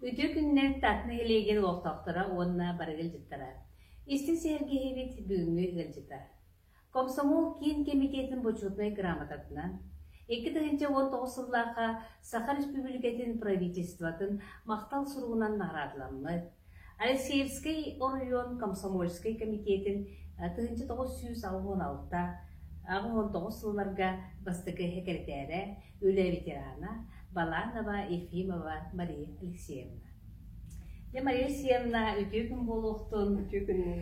Үтүө күннэр Татна Елегин олохтоохторо уонна барыгы ыалдьыттара. Истин сэргиһибит бүгүҥҥү ыалдьыта. Комсомол киин кэмитиэтин бочуотунай грамотатынан 2019 сыллаахха Саха Республикатын Правительствотын махтал суругунан наградыламмыт. Алексеевскай оройуон комсомольскай кэмитиэтин тыһыынча тоҕус сүүс алта уон алта аҕыс уон тоҕус сылларга бастакы сэкирэтээрэ, үлэ ветерана Баланова Ефимова Мария Алексеевна. Дьэ Мария Алексеевна үтүө күн буолуохтун. Үтүө күннүн.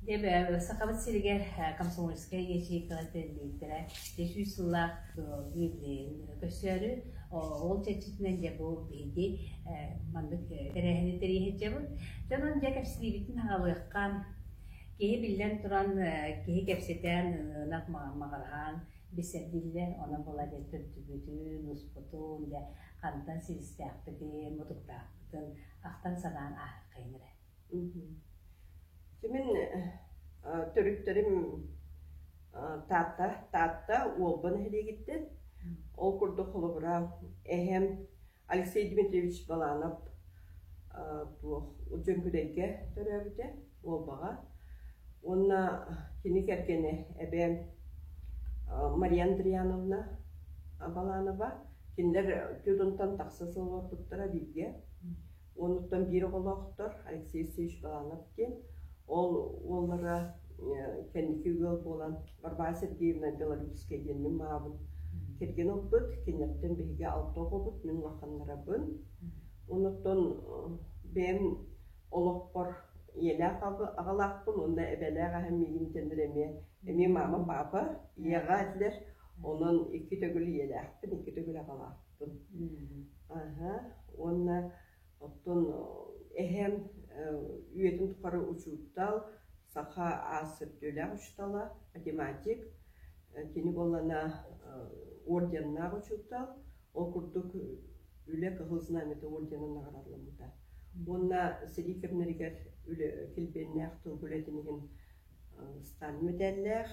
Дьэ Сахабыт сиригэр комсомольскай ячейкалар тэриллииттэрэ сүүс сыллаах көрсөөрү ол чэрчитинэн дьэ бу биһиги маннык тэрээһини тэрийэһиччэбит дьонун дьэ кэпсиибитин аҕалыаххан киһи биллэн туран киһи кэпсэтэн ынах маҕараһаан бисэрдиллэр онон була дьэ төрдүбүтүн успутун дьэ хантан силистээхпитин мутуктаахпытын ахтан санаан аһыаххайын эрэ Мин төрүттэрим Таатта, Таатта Уолба нэһилиэгиттэн. Ол курдук холобура эһэм Алексей Дмитриевич Баланов туох Дьөҥкүдэйгэ төрөөбүтэ Уолбаҕа. Уонна кини кэргэнэ эбээм Мария Андриановна Баланова. Кинилэр Тюдунтан тахса сыл олорбуттара бииргэ. Оннуктан биир оҕолоохтор Алексей Алексеевич Баланов диэн. Ол уоллара кэнники ыал буолан Варвара Сергеевна Белорусская диэн мин маабын кэргэн ылбыт, кинилэртэн биһиги алта оҕобут, мин улаханнарабын. Оннуктан бэйэм олохпор ийэлээх аҕалаахпын уонна эбэлээх эһэм миигин тэннэр эмиэ эмиэ маама паапа ийэҕэ этилэр. Онон икки төгүл ийэлээхпин, икки төгүл аҕалаахпын. Аһа уонна оттон эһэм үйэтин тухары учуутал, саха аас сөптүөлээх учуутала, математик, кини буоллана орденнаах учуутал, ол курдук Үлэ Кыһыл Знамята орденын наҕараадыламмыта. Уонна сэрии кэмнэригэр үлэ килбиэннээх тыл үлэтин иһин станна мэтээллээх,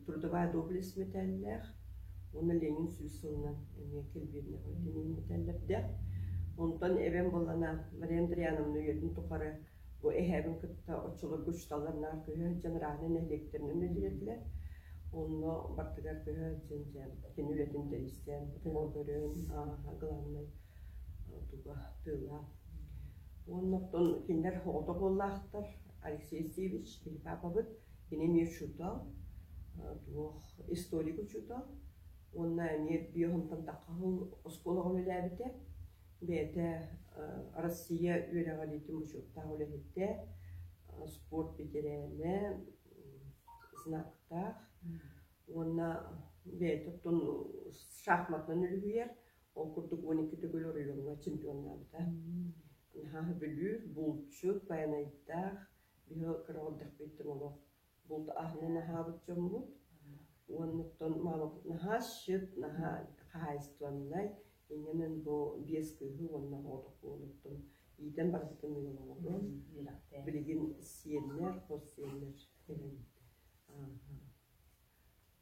трудовая доблесть мэтээллээх уонна ленин сүүс сылынан эмиэ кирбиирнэҕэ ленин мэтээллэрдээх онтон эбэм буоллана мария андриановна үйэтин тухары бу эһээбин кытта оччолорго учууталларнаах көһө сылдьан раана нэһилиэктэринэн үлэлиэтилэр онно бартыгар көһө сылдьан дьэ кини үлэтин тэристээн тылы көрөн ааһа главнай туга тыла уонна оттон кинилэр оҕото буоллаахтар Алексей Севич или папабыт кини учуутал, туох историк учуутал. Уонна эмиэ Биоһунтан тахха оскуолаҕа үлэлээбитэ. Бэйэтэ Россия үөрэҕэлиитин учуоттаах үлэһиттэ, спорт бэтэрээнэ, знактаах. Уонна бэйэтэ оттон шахматынан үлүһүйэр, Ол курдук он икки төгүл оройуоҥҥа чемпионнаабыта. Наһаа Бүлүүр, булчут, Байанайдаах, биһи кыра эрдэхпиттэн олох булт аһынан аһаабыт дьоммут. Уонуттан маалапыт наһаа щит, наһаа хаһаайыстыбаннай. Иннинэн бу биэс кыыһы уонна оҕотох уолуттан иитэн барытын ыаллаҕым. Билигин сиэннэр, хос сиэннэр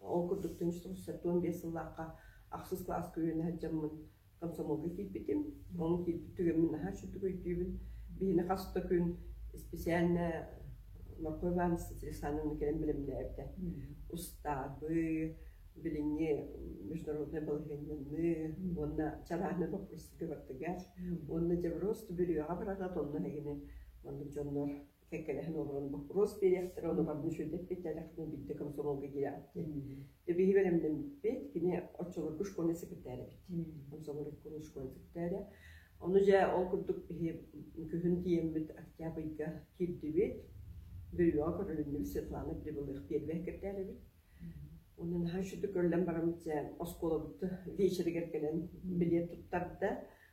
Ол курдук түнчүк сеппуон биэс сыллаахха ахсыс кылаас көлүөнэ сылдьаммын комсомолга киирбитим. Ол киирбит түгэммин наһаа үчүгдүк өйдүүбүн. Биһиги хас да күн исписээннэ Марко Иванович Александровна кэлэн бэлэмнээбитэ. Устаабы, билиҥҥи международнай балаһыанньаны уонна чарааһынай боппуруостарга бартыгар уонна Дьаброз бүрүйэҕэ барара онно эһигини маннык дьоннор кэккэлэһэн олорон боппуруос биэриэхтэрэ, ону барытын сүрдэппит тэлэхтин бүттэ комсомолга киирэхтин. Биһи бэлэмнэммиппит, кини оччолорго школьный секретарь эбит. Комсомоликкун школьный секретаря. Ону дьэ ол курдук биһи күһүн тиэммит октябрьга киирдибит. Бөлүөҕэ көрөлүннүбүт Светлана Прибылых первый кирдээл эбит. Онон һан сүтү көрөлөн барамчы оскуолабыт вечеригэр кэлэн билет туттарда.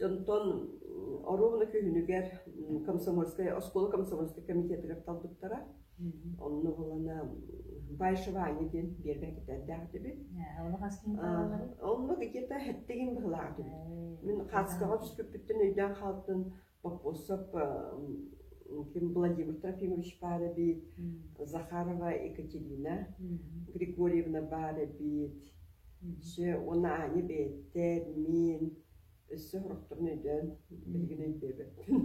Онтон оруобуна күһүнүгэр комсомольскай, оскуола комсомольскай комитетыгар талбыттара. Онно булана Байшевание диэн биэргэ кэтэрдээх этибит. Онно где-то хэттигин быһылаах этибит. Мин хаацкаҕа түспүппүттэн өйдөөн хаалтын вопросов ким Владимир Трофимович баар эбит, Захарова Екатерина Григорьевна баар эбит, Ще уонна Аня бэйэттэр, мин өссө сорохторун өйдөөн билигин өйдөөбөппүн.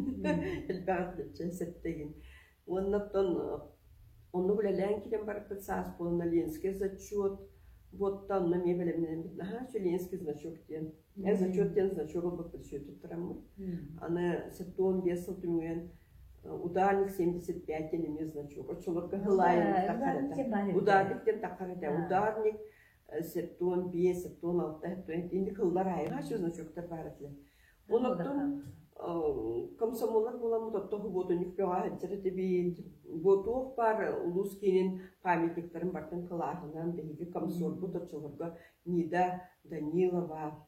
Элбэҕи сэттэйин. Уонна оттон оннук үлэлээн киирэн барыппыт саас буолан Ленский зачет, буотта онно эмиэ бэлэмнэммит наһаа үчүгэй Ленский значок диэн. Эн зачет диэн значок ылбыппыт сүөтүп тураммыт. Аны сэттэ уон биэс сыл түмүгэн утаальник семьдесят пять диэн эмиэ значок. Оччолорго хылаайын таххарата. Утаарник диэн таххарата. Утаарник септуон биэс, септуон алта, септуон инди кыллар айылҕа значоктар баар этилэр. Олортон комсомоллар буоламмыт оттоху ботунньук көҕө сылдьар этибиин бу туох баар улуус киинин памятниктарын бартын кылааһынан биһиги комсорбут оччолорго Нида Данилова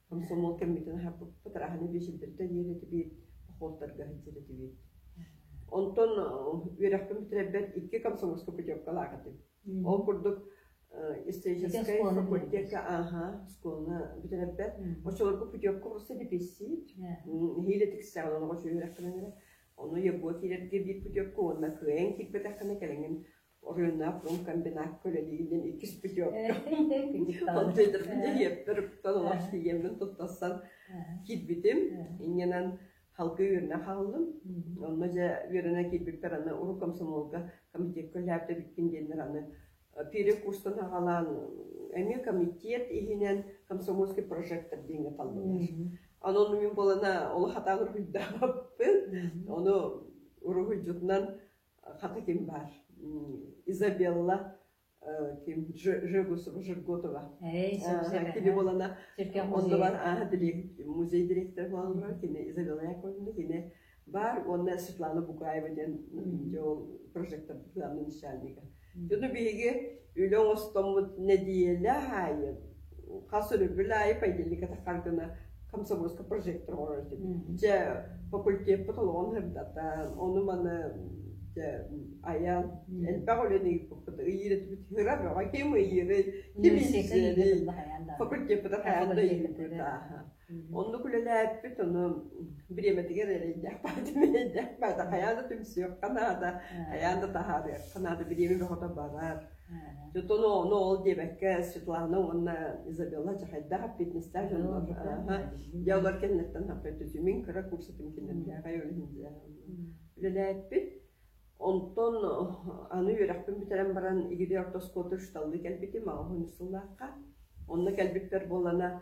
Комсомол кэммитин аһаппыппыт, араһаны биэчилдэрдэ диэри этибит, похуоттарга сылдьар этибит. Онтон үөрэхпин бүтэрэрбэр икки комсомольскай путевкалаах этим. Ол курдук историческай факультетка ааха школаны бүтэрэрбэр очолорго путевка урусса диписсиит нэһиилэ тиксэҕин оноҕо үөрэхпинэн эрэ ону ебуо киирэргэ биир путевка уонна кыайан киирбэтэххинэ кэлэҥин Оройуоннаах уон комбинакка үлэлиирин иккис путевка. Ол диэтэрбин иһиэппэр ыптан олох тиийэммин туттарсан киирбитим. Иннинэн халгы үөрэнэ хааллым. Онно дьэ үөрэнэ киирбиппэр аны урут комсомолга комитетка үлэһэбитэ бүппүн диэннэр аны пере курстан аҕалаан эмиэ комитет иһинэн комсомольский прожектор диэҥҥэ таллылар. Онон мин буолана олох хатаан уруһуйдаабаппын. Ону уруһуйдьутунан хата ким баар Изабелла ким Жирготова кини буолана оннугар музей директор буолаллар кини Изабелла Яковлевна кини баар уонна Светлана Букаева диэн ол прожектор план начальнига Дьону биһиги үлэ оҥостоммут нэдиэлэ аайы хас өлөрбүл аайы поедельниката хардына комсомольска прожектор оҥорор этим. Дьэ факультеппыт олоҕун сырдатан, ону-маны дьэ айан элбэх үлэни ыыппыппыт ыйыыр этибит ыра бөҕө ким ыйыырый, ким иссэрий факультеппыта хайаан да ыйыыппыт ааха. Оннук үлэлээппит, ону бириэмэтигэр эрэйдээх баатын эрэйдээх баата хайаан да түмсүөххэ наада, хайаан да таһаарыахха наада, бириэмэ бөҕөтө барар. Дьон ону ол диэбэккэ Светлана уонна Изабелла чахайдаах фитнестаах дьоннор дьаллар кэннэттэн хаппыттытымин кыра курсатым киннэмдээҕэй үлэлээппит онтон аны үөрэхпин бүтэрэн баран игири ортоскуоту шталлы кэлбитим аҕа сыллаахха онно кэлбиппэр буолана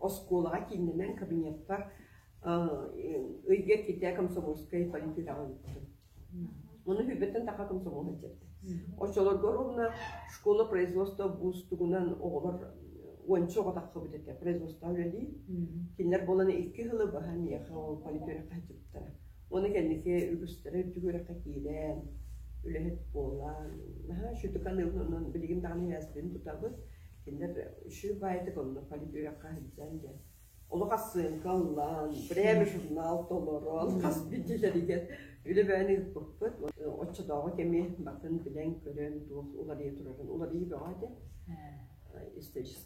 оскуолаҕа кииннэнэн кабинетка ыйга киирдэ комсомольскай полиэтиляҕа ыыттым. Оны hübbetten таха комсомолун чэрдэ. Оччолорго ровно школа производства буустугунан оҕолор уонча оҕотахха бүтэтэ производство үлэлии. Кинилэр буолан икки хылы баһа миэхэ ол политиэххэ Ону кэнники үгүстэрэ үрдүк үөрэххэ киирэн, үлэһит буолан, наһаа үчүгэй саныылынан билигин даҕаны ээспитин тутабыт. Кинилэр үчүгэй баайытык оннук политик үөрэххэ сылдьан дьэ олох ахсыанка ыллаан, время журнал толорон, хас биллилэригэр үлэбээн ыыппыппыт. Оччотооҕу кэми батын билэн, көрөн туох уларыйа турарын уларыйыы бөҕө этэ. Историческай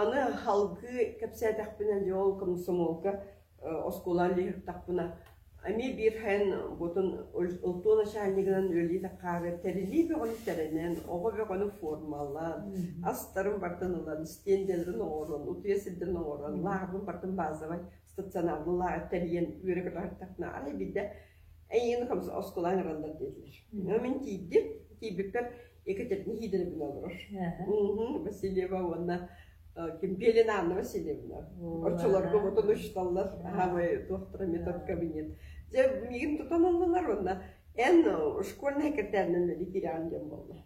Аны салгыы кэпсээтэхпинэ дьэ ол комсомолка оскуолаҕа үлэлиэхтээхпинэ эмиэ биир һээн буотун олтуо начальнигынан үлэлии хаары тэрилии бөҕөнү тэринэн оҕо бөҕөнү формалаан астарын бартан ылан стендэлэрин оҥорон утуйа сирдэрин оҥорон лааҕырбын бартын баазовай стационарбын лааҕыр тэрийэн үөрэ көтөҕүртэхпинэ арай биирдэ Эйиин хамс оскуолаан эрэллэр диэтилэр. Мин тиийди, тиийбиккэр Екатерина Хидоровна олорор. Васильева уонна Кимпелина Анна Васильевна. Оччолорго ботон учиталлар, аамай доктора метод кабинет. Дьэ, мигин тутан аллылар уонна эн школьный картянын ветеран диэн болла.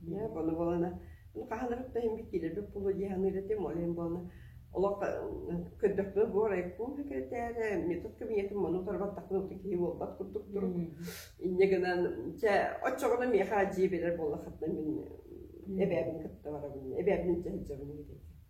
Дьэ, ону буолана хаһанарым да иһин киилэрбит буолуо дии саныыр этим, ол иһин буолана олох көрдөхпүнэ бу райком секретэрэ, метод кабинетым мону утарбаттахпына уту киһи буолбат курдук тур. Инньэ гынан чэ оччоҕуна миэхэ дьиэ берер буолла хатна мин эбээбин кытта барабын эбээбин дьэ сылдьабын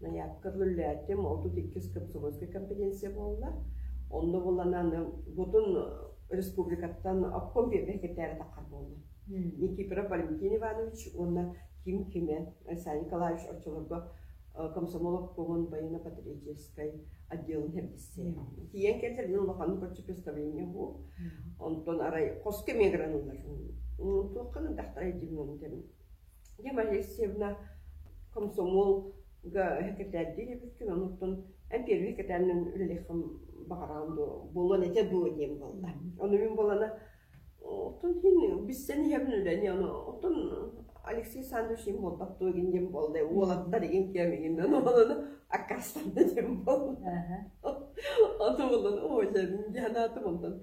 Наядка үлэлээтим, отут иккис комсомольскай компетенция буолла. Онно буланан бутун республикаттан обком биэрбэкэтээри таххар буолла. Никифоров Валентин Иванович уонна Ким Киме, Саня Николаевич оччолорго комсомол обкомун военно-патриотическай отделын хердиссе. Тиен кэллэрин улахан көрчү представление бу. Онтон арай хос кемегранылар. Туохханын тахтара димнон Ева Алексеевна комсомолга сэкирэтээрдии үлэбиттэн, онуттан эн первый сэкирэтээринэн үлэлиэххин баҕараҕын дуо, буолуон этэ дуо диэн буолла. Ону мин буолана оттон иһин билсэн иһэбин үлэни, ону оттон Алексей Александрович им буолбат дуо игин диэн буолла, уолаттар игин киэм игин ону аккастанды диэн буолла. Ону булан оо дьэ дьанаатым онтон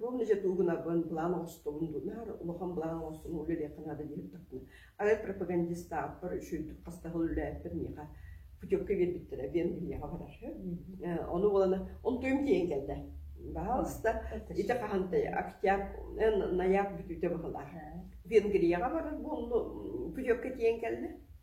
Ром ise тугунарбын былаан оҥостобун дуу, наар улахан былаан оҥостон үлэлиэххэ наада диэбиттэринэ, арай пропагандистаахпар үчүгэйдик хастаһыл үлэлээппэр миэхэ путевка биэрбиттэрэ, Вен биһиэхэ барар. Ону буолана, он туйум тиийэн кэллэ. Баҕаласта, ити хаһантай октябрь, ноябрь бүтүүтэ быһылаах. Венгрияҕа барар буолну, путевка тиийэн кэллэ.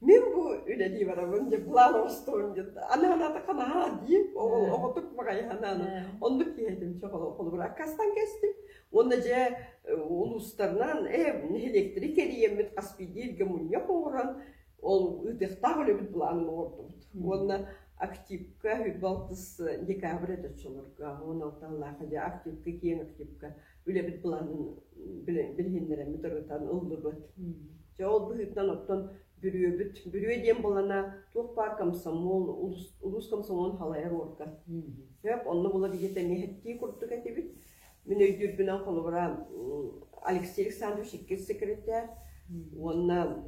Мин бу үлэлии барабын дии былаан оҥостубун диэн аны санаатахха наһаа дии ол оҕотук маҕайы санаан оннук киэһэтим чох холобур аккастан кэстим уонна дьэ улуустарынан э нэһилиэктэри кэрийэммит хас бииргэ мунньах оҥорон ол ыытыахтаах үлэбит былаанын оҥордубут уонна активка балтыс декабрь это чолорго он алталаах дьэ активка киэҥ активка үлэбит булан билиһиннэрэммит ырытан ыллыбыт. Дьэ ол быһыытынан оттон бүрүөбүт бүрүө диэн буолана туох баар комсомол улус улус комсомолун халайар уорга. Сөп онно булар ийэтэ миэхэттии курдук этибит. Мин өйдүүрбүнэн холобура Алексей Александрович иккис секретарь уонна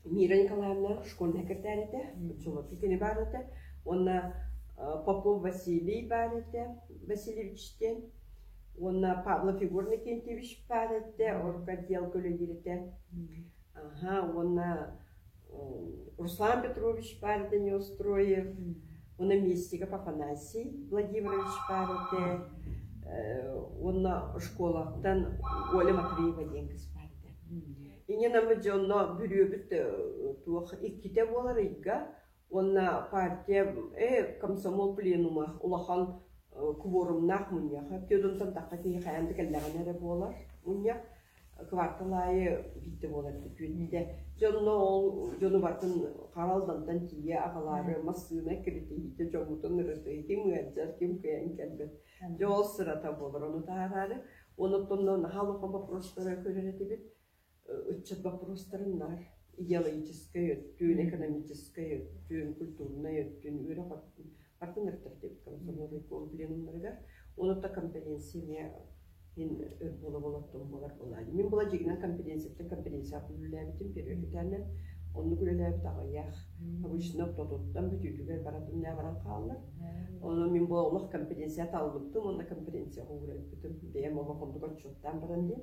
Мира Николаевна школьный секретарь этэ, очолоппу кини баар этэ. Уонна Попов Василий баар этэ, Васильевич диэн Уонна Павлов Егор Никентьевич паар эттэ, орготдел көлөдүрэтэ. Аха, уонна Руслан Петрович паар этэ Неустроев. Уонна Местников Афанасий Владимирович паар этэ. Уонна школаттан Оля Матвеева диэн кыз паар этэ. Иньэ Намы дьонно бүрүөбүт туох иккитэ буолар ыйга уонна партия комсомол пленума улахан кворумнаах мунньах түөрт онтон тахха киһи хайаан да кэллэҕинэ эрэ буолар мунньах квартал аайы биирдэ буолар күөннүүдэ дьонно ол дьону батын хара алдантан тиийэ аҕалаары массыына киритиһиитэ дьоҥҥутун ырытыһытым ыалдьар ким кыайан кэлбэт дьэ ол сырата буолар ону таһараары онуттан наһаа локо бопростара көрөр этибит Ыччат боппуруостарын наар идеологическай өттүн, экономическай өттүн, культурнай өттүн, үөрэх атын өртөптүк комсомольнай пленумнарыгар, онута компетенция эмиэ иһин өр буола болоттон буолар буолаайы. Мин була дьигинэн компетенцияттан компетенциябын үлэлээбитим периодитаанан. Оннук үлэлээбит аҕыйах. Обычно тотуттан бүтүүтүгэр баратын нෑ баран хааллар. Ону мин бу олох компетенцията албыттым, онна компетенцияға уурайбытым. Бэйэм олох оннук отчуттаан баран диэн.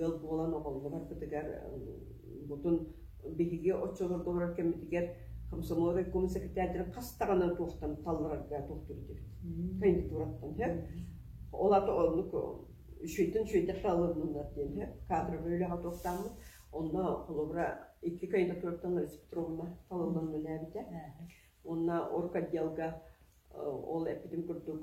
ыал буолан оҕоллор-бытыгар бутун биһиги оччолордоҕор кэммитигэр комсомол райком секретарьдарын хас даҕаны туохтан талларарга туохтур дибит кандидатураттан һэ ол ата оннук үчүйтүн үчүйдэхке алыннылар диэн һэ кадровый үлэҕэ туохтааммыт онно холобура икки кандидатураттан Лариса Петровна талыллан үлэлээбитэ онно орг отделга ол эппитим курдук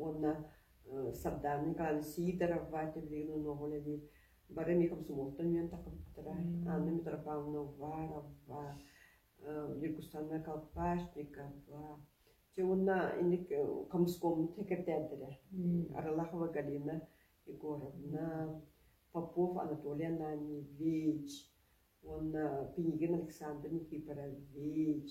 уонна Сардаана Николаевна Сидорова тиллигин онуоҕун эбиир бары эмиэ комсомолтан үөн тахпыттара Анна Митрофановна Уварова Нюргустана Колпашникова Чэ уонна инник комскоммут сэкиртээрдэрэ Аралахова Галина Егоровна Попов Анатолий Ананьевич уонна Пинигин Александр Никифорович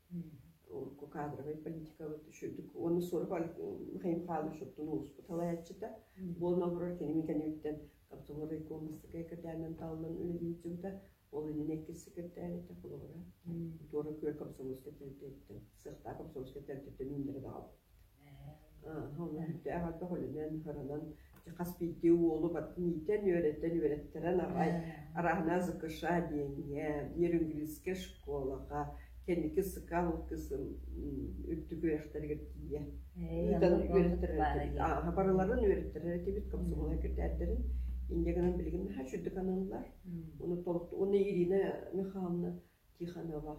кадровай политикабыт үчүгдүк уонна сорох Михаил Михайлович оттон улууспут салайааччыта буолан олорор кини мин кэнниттэн каптовой Масскай кырдээнэн тааллан үлэлиир дьыбыта ол иннинэ иккис секретарь этэ холобура туора күөр комсомольскай тэрилтэттэн сыахтаах комсомольскай тэрилтэттэн үүннэрэ даҕал Үлэһитэ аҕата үлэнэн, харанан дьэ хас биирдии уолу бартын иитэн, үөрэтэн, үөрэттэрэн аҕай арааһынаа ЗКШ диэҥҥэ, Нерюнгрийская школаҕа, кэнники Сыкал кысым үрдүк үөрэхтэригэр тиийэ ыытан үөрэттэрэр этибит. барыларын үөрэттэрэр этибит, комсомолга кирдээрдэрин. Инде гынан билигин наһаа чуддук аналлар. Оны толук, оны Ирина Михайловна Тихонова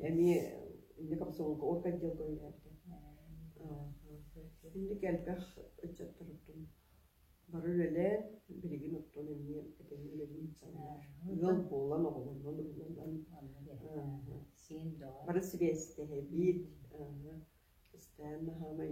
эмиэ инники хамсаҕылга орган отделга үлэлээбитэ. Инник элбэх ыччаттарбытын бары үлэлээн, билигин оттон эмиэ этэҥҥэ үлэлиир санаалар. Ыал буолан, оҕолорунан уйуланан, бары сибээстэһэбит. Кистээн хаамай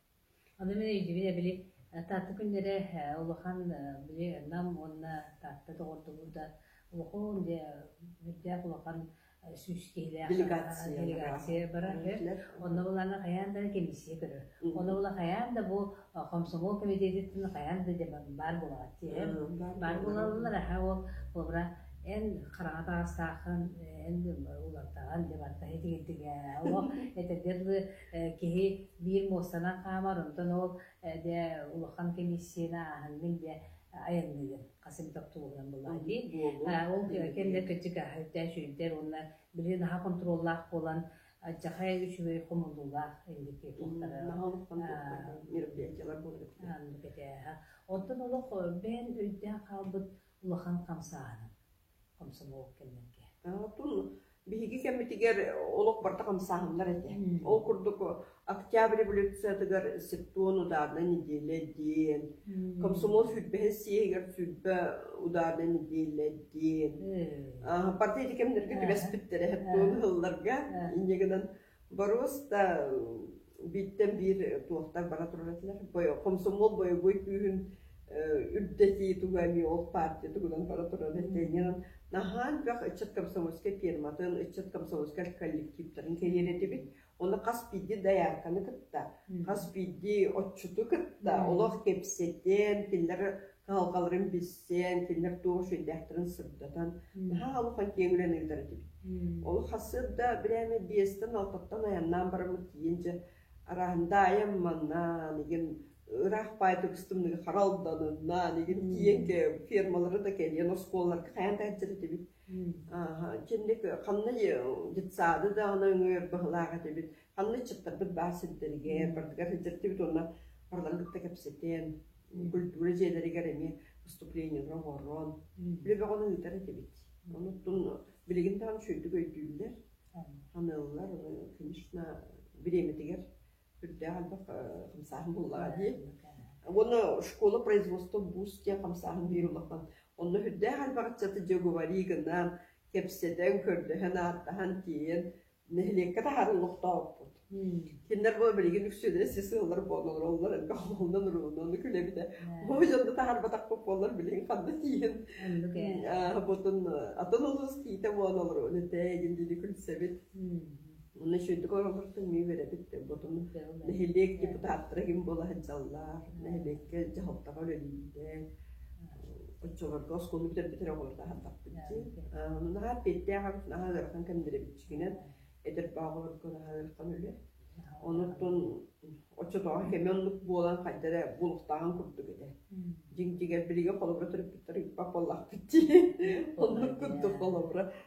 Аны мин өйдүүбүн били Таатта күннэрэ улахан били Нам уонна Таатта доҕордоһуу да улахан дьэ өрдөөх улахан сүүс киһилээх делегация барар онно булаана хайаан да кэмсийэ көрөр ону була хайаан да бу комсомол комитетиттэн хайаан да баар буолаат диэн баар буолаллар аха ол буолара эн хараҥа таастаахын эн улартаҕын дебаттаһы тигитигэ ол этэдэр Киһи биир муостанан хаамар, онтон ол дэ улахан комиссияны ааһыҥҥын диэ айанныыгын хас эмэ тохтолугунан былаан. Ол кэмнэр кэнчик аһыйдар, сүрдэр уонна билигин наһаа контроллаах буолан адьахай үчүгэй хомуллуулаах эндики туохтара мероприятиялар буолар. Онтон олох бэйэн өйдөөн хаалбыт улахан хамсааһыным. Комсомол кэннэргэ. Оттон биһиги кэммитигэр олох барта хамсааһыннар этэ. Ол курдук Октябрь революциятыгар септуон ударнай нэдиэлэ диэн, комсомол сүүрбэһис съеһигэр сүүрбэ ударнай нэдиэлэ диэн. Партия ити кэмнэргэ түбэспиттэрэ септуон ыһылларга инньэ гынан Боруос да бииртэн биир туохтар бара турар этилэр. Комсомол боевой күүһүн үрдэтии туга эмиэ ол партия тугунан бара турар этинэн наһаа бөх ыччат комсомольскай фирматын, ыччат комсомольскай коллективтарын кэйиэн этибит. Оны хас биирди даярканы кытта, хас биирди отчуту кытта олох кепсетен, тиллер Сыалкаларын билсэн, кинилэр туох үчүгэйдээхтэрин сырдатан, наһаа олох киэҥ үлэни ыытар этибит. Ол хасыырда бирээми биэстэн, алтаттан айаннаан бараммыт тиийин дьэ араандаайым маннаан игин ыраах паайтыбыстымныгы харалданыннаан игин тииэн фермалары да кэлиэн оскуолаларга хайан тааччар этибит Ичинник ханна детсаады даҕана өҥүөр баһылаах этибит. Ханна ыччаттарбыт баар сирдэригэр, бардыгар сылдьартыбыт уонна барыларын кытта кэпсэтэн, культура дьиэлэригэр эмиэ выступлениелары оҥорон, үлэ бөҕөнү ыытар этибит. Онуттан билигин даҕаны сүрдүк өйдүүллэр, саныыллар. Конечно, бириэмэтигэр сүрдээх элбэх хамсааһын буллаҕа дии уонна школа производства бус диэн хамсааһын биир улахан онно сүрдээх элбэх ыччаты дьоговарии гынан кэпсэтэн көрдөһөн ааттаһан тиийэн нэһилиэккэ таһааран олохтооппут кинилэр бу билигин үксүлэрэ сис сыаллар буолаллар оллор элбэх олунан уруунан күлэбитэ бу дьонду таһаарбатахпыт буоллар билигин ханна тииһин атын улуус киитэ буолалар этэ дии күлсэбит Уонна үчүгэйдик олорортон миэ үөрэбит ботуну нэһилиэк депутаттара ким буола сылдьаллар, нэһилиэккэ дьаһалтаҕа үлэлииллэр, оччолорго оскуола бүтэрбитэр оҕолорго аһардахпыт дии. Наһаа эппиэттээх абыт наһаа ыарахан кэмдэрибитчигинэн эдэр бааҕыларга наһаа ыарахан үлэ. Онуттан оччотооҕу кэми оннук буолан хайда эрэ булуктааҕын курдук этэ. Дьиҥ дьигэр билигэ холобура төрөппүттэр ыйпап буоллахпыт дии. Оннук курдук холобура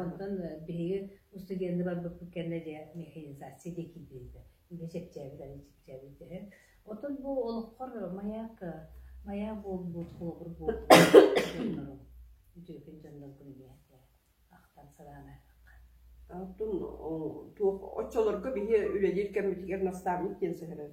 Онтон биһиги устудьуоннуу барбыппыт кэннэ дьэ механизация диэки киирбитэ. Үлэ чэпчээбит, аны чэпчээбит дьэ. Оттон бу олоххор маяк маяк буолбут, холобур буолбут үтүөкэн дьонноргун ийэтэ ахтан санаан аймаххын. Туох оччолорго биһи үлэлиир кэммитигэр настаабыт диэн сэһэрэр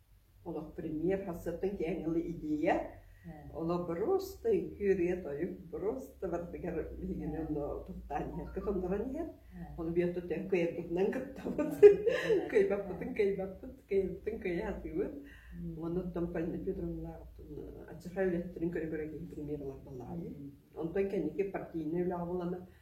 олох премьер сарсыардан киэҥ ылы идея олох просто үҥкүү-ырыа-тойук просто бардыгар биһигини ону тохтоон иһэр көтоннорон иһэр ону биэрту төн кыйарбытынан кыттабыт кыйбаппытын кыйбаппыт кыйбаппытын кыйа атыыбыт онуттан Полина Петровналаахтын аччаха үлэттэрин көрө көрө премьер ылардалаайы онтон кэнники партийнай үлэҕэ булана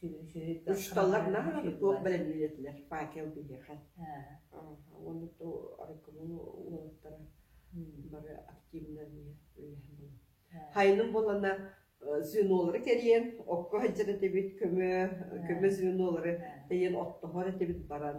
Учууталлар наһаа туох бэлэмниир этилэр Пакел биһиэхэ уонна ту арыккынын уолаттара бары активынан үлэһэн хайыным буоллана звенолары кэрийэн окко сылдьар этибит көмө көмө звенолары тэйэн оттоһор этибит баран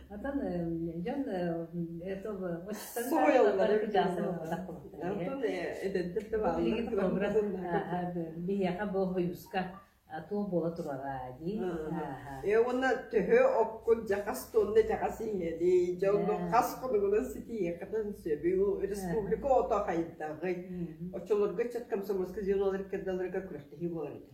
Оттон дьон этого очень соруйаллар Оттон эдэрдэр да бааллар. Биһиэхэ бу хойуска туох буола турара дии. Э уонна төһө оккут жакас тонна жакас иҥэди, дьонго хас хонугунан ситиэхтен сөбү республика ото хайдагы. Очолорго чаткам самоска зеналар кирдаларга күрәхтехи болар ите.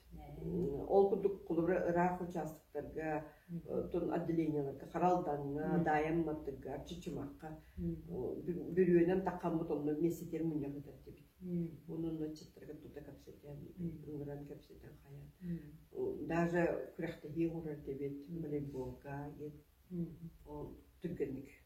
Ол курдук холобура ыраах учаастактарга оттон отделениеларга хара алдаҥҥа, Даайам Маттыгга, Чычымахха бүрүөнэн таххаммыт онно миэстэтигэр мунньах ыытар этибит. Оны онно отчеттарга тута кэпсэтэн, ыҥыран кэпсэтэн хайан. Даже күрэхтэһии оҥорор эбит волейболга, ол түргэнник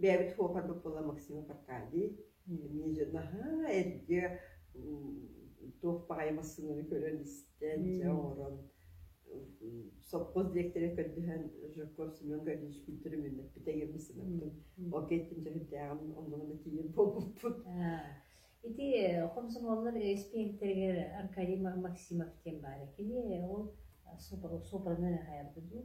бэйэбит хуопарбыт буола Максима Аркадий эмиэ наһаа эргэ туох баҕайы массыынаны көрөн истэн дьэ оҥорон сопхуос диэктэрин көрдөһөн Жирков Семен Гаврильевич күнтүр үүннэппитэ эҥирбин санаппын ол киһиттин дьэһирдээҕим оннугана тиийэн буолбуппут ити хомсомуоллар испиэктэригэр Аркадий Максимов диэн баара кини ол сопрано хайарбыт дуу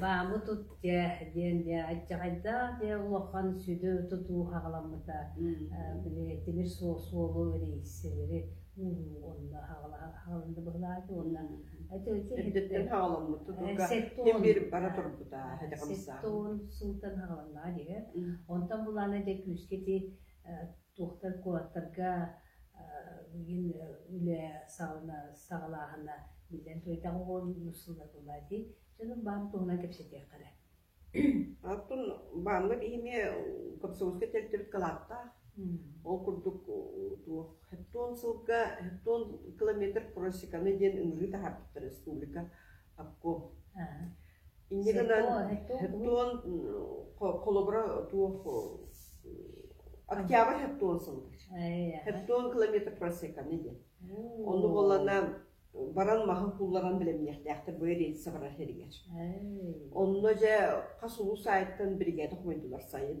Баамы тут дьэ диэн дьэ аччаҕайдаах дьэ улахан сүдү тутуу хаҕаламмыта. Били тимир суолу рейсэлэри ууруу онно хаҕаланна быһылаата уонна үрдүттэн хаҕаламмыт тутууга ким биир бара турбута сэттээн сылтан хаҕаланнаҕа дии. Онтон булаана дьэ күүскэ ити туохтар куораттарга миигин үлэ саҕана саҕалааһына биллэн туойдах оҕо сыллатыла дии дьонум баам туһунан кэпсэтиэххэ эрэ аттын бааммыт иһиме комсомольскай территорият калааттаах ол курдук туох сылга километр просеканы диэн ыҥырыы таһаарбыттар республика Акко. Инньэ гынан хеттон холобура туох Октябрь хеттон сылдыч. Хеттон километр просеканы диэн. Ону болана баран маһын кулларан билемниэхтээхтер бу рельсэ барар херигер. Онно же хас улуу сайттан бригада хомойдулар сайын.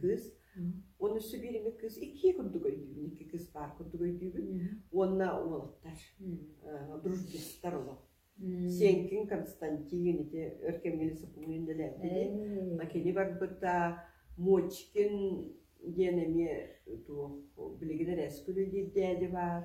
кыыс уонна Сибириҥҥэ кыыс икки курдук өйдүүбүн икки кыыс баар курдук өйдүүбүн уонна уолаттар друждустар олох Сиэҥкиҥ Константин ити өр кэмҥэ сопумун үлэлээбит кини барбыта Мочкин диэн эмиэ туох билигин эрээскүлүү диир дээди баар